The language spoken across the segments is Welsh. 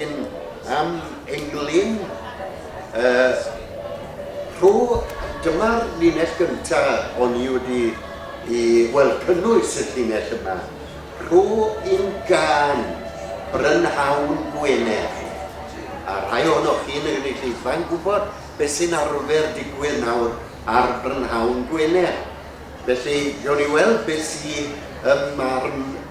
Yn am englyn y rho dyma'r linell gynta o'n i wedi i wel cynnwys y llinell yma rho un gân brynhawn Gwener a rhai ohonoch chi yn y gynulleidfa yn gwybod beth sy'n arfer digwydd nawr ar brynhawn Gwener felly gewn ni weld beth sy ym marn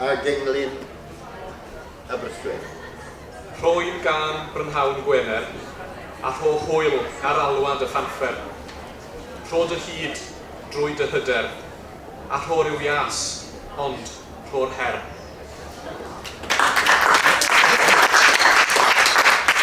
a gynglyn Aberystwyth. Rhoi'n gân brynhawn Gwener, a rho hwyl ar alwad y Llanffer. Rho dy hud drwy dy hyder, a rho ryw ias, ond rho'r her.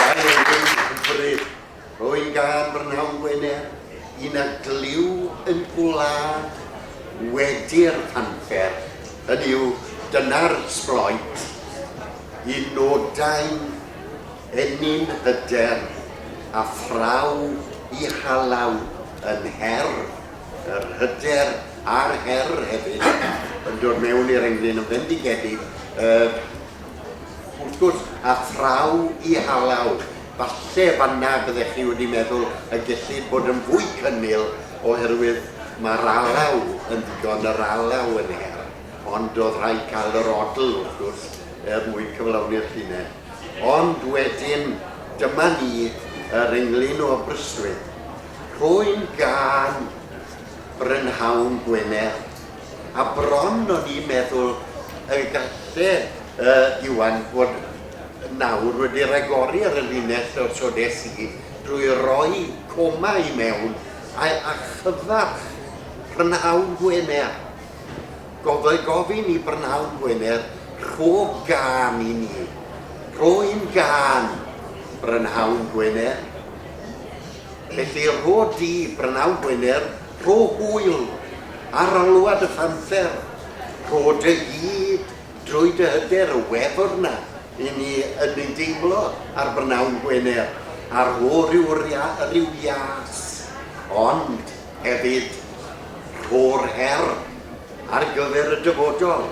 Mae e'n hyfryd. Rwy'n gân b'rnawn Gwener, un a glyw yn gwlad wedi'r anfer, hynny yw, dyna'r sbloet, un nodau'n ennyn hyder a phraw i halaw yn her, yr hyder a'r her hefyd yn dod mewn i'r englyn yn fendigedig, yy, wrth gwrs, a phraw i halaw Falle fanna byddech chi wedi meddwl y gellid bod yn fwy cynnil oherwydd mae'r alaw yn ddigon, yr alaw yn her, ond oedd rhaid cael yr odl, wrth gwrs, er mwyn cyflawni'r llinell. Ond wedyn, dyma ni, yr englyn o Aberystwyth. Rhwy'n gân brynhawn Gwener. a bron o'n i'n meddwl y galle yy Iwan fod nawr wedi ragori ar y linell o so des i drwy roi coma i mewn a a chyfarch prynhawn Gwener. Gofai gofyn i brynhawn Gwener rho gân i ni. Rho un gân, brynhawn Gwener. Felly, rho di, Brynawn Gwener, rho hwyl ar alwad y phanthêr, rho dy hud drwy dy hyder y wefr 'na i ni yn ei deimlo ar Brynawn Gwener, a rho ryw ryw ias, ond hefyd rho'r her ar gyfer y dyfodol,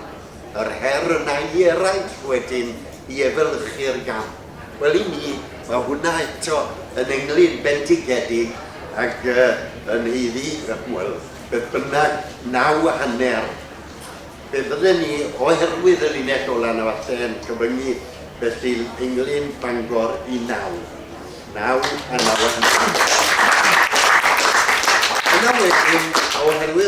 yr her yna i eraill wedyn i efelychu'r gamp. Wel i mi, mae hwnna eto yn englyn bendigedig ac yn haeddu, wel, beth bynnag, naw a hanner. Fe fydden ni, oherwydd y linell ola' 'na falle, yn cyfyngu felly englyn Bangor i naw. Naw a naw a hanner. Yna wedyn, oherwydd